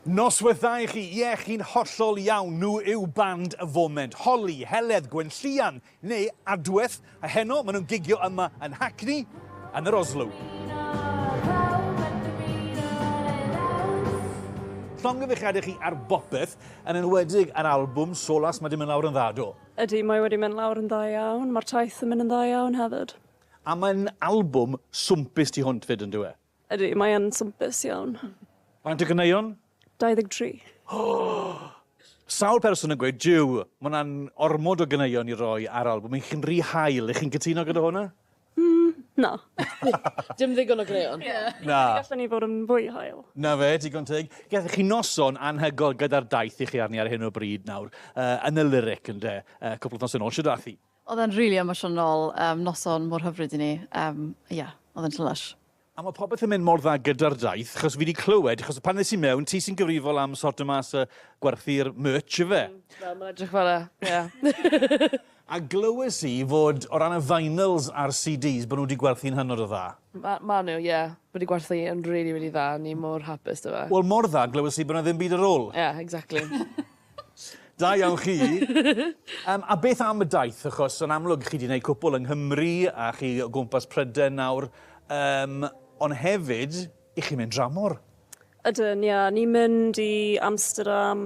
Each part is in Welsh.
Noswaith dda i chi. Ie, chi'n hollol iawn, nhw yw band y foment. Holly, Heledd, Gwenllian, neu Adwaith, a heno maen nhw'n gigio yma yn Hackney, yn yr Oslo. Llongyfarchiadau i chi ar bopeth, yn enwedig ar albwm Solas, mae 'di mynd lawr yn dda, do? Ydy, mae wedi mynd lawr yn dda iawn, mae'r taith yn mynd yn dda iawn hefyd. A mae'n albwm swmpus tu hwnt 'fyd, yn dyw e? Ydy, mae yn swmpus iawn. Faint o ganeuon? 23. Sawl person yn gweud, jiw, mae hwnna'n ormod o ganeuon i roi ar albwm i chi'n rhy hael, ych chi'n cytuno gyda hwnna? Mm, na. Dim ddigon o ganeuon. Na. Gallwn ni fod yn fwy hael. Na fe, digon teg. Gallwch chi noson anhygoel gyda'r daith i chi arni ar hyn o bryd nawr, uh, yn y lyric ynde, uh, cwpl o noson ôl, siwr dath i? Oedd e'n rili emosiynol, yym noson mor hyfryd i ni, yym ie, oedd e'n jyst lysh. A ma popeth yn mynd mor dda gyda'r daith, chos fi di clywed, chos pan nes i mewn, ti sy'n gyfrifol am sorto mas y gwerthu'r merch ife? Mm, wel ma'n edrych fel e, ie. A glywes i fod o ran y vinyls a'r CDs bod nhw di gwerthu'n hynod o dda. Ma ma nhw, ie, wedi gwerthu yn rili rili dda, ni mor hapus da fe. Wel mor dda, glywes i bod na ddim byd ar ôl. Ie, exactly. Da iawn chi. um, a beth am y daith? Achos yn amlwg chi wedi gwneud cwpl yng Nghymru a chi o gwmpas Pryden nawr. Um, ond hefyd, i chi mynd dramor. Ydyn, ia. Ni'n mynd i Amsterdam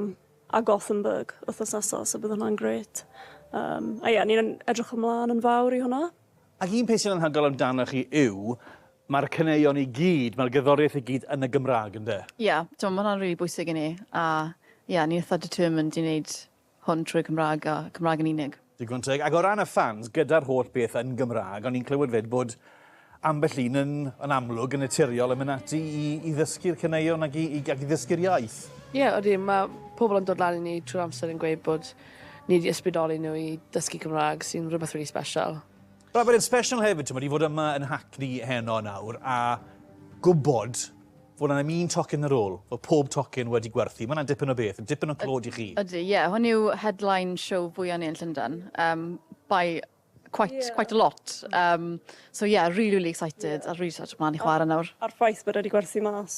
a Gothenburg wythnos nesaf, so bydd hwnna'n grêt. Um, a ia, ni'n edrych ymlaen yn fawr i hwnna. Ac un peth sy'n anhygoel amdano chi yw, mae'r caneuon i gyd, mae'r gerddoriaeth i gyd yn y Gymraeg, yn de? Ie, t'mo' ma' hwnna'n rili bwysig i ni, a ie, ni'n itha determined i neud hwn trwy'r Cymraeg a Cymraeg yn unig. Digon teg. Ac o ran y ffans, gyda'r holl beth yn Gymraeg, o'n i'n clywed 'fyd bod ambell un yn, yn amlwg, yn naturiol yn mynd ati i, i ddysgu'r caneuon ac i, i, ac i ddysgu'r iaith. Ie, odi, ma' pobl yn dod lan i ni trwy'r amser yn gweud bod Nid i ysbrydoli nhw i ddysgu Cymraeg sy'n rhywbeth rili special. Wel, mae'n special hefyd, ti'n i fod yma yn Hackney heno nawr a gwybod fod yna un tocyn ar ôl, fod pob tocyn wedi gwerthu. Mae yna dipyn o beth, yn dipyn o clod i chi. Ydy, ie. Hwn yw headline show fwyaf ni yn Llundain, um, by quite, yeah. quite a lot. Um, so yeah, really, really excited, yeah. a really excited mlaen i chwarae nawr. A'r ffaith bod wedi gwerthu mas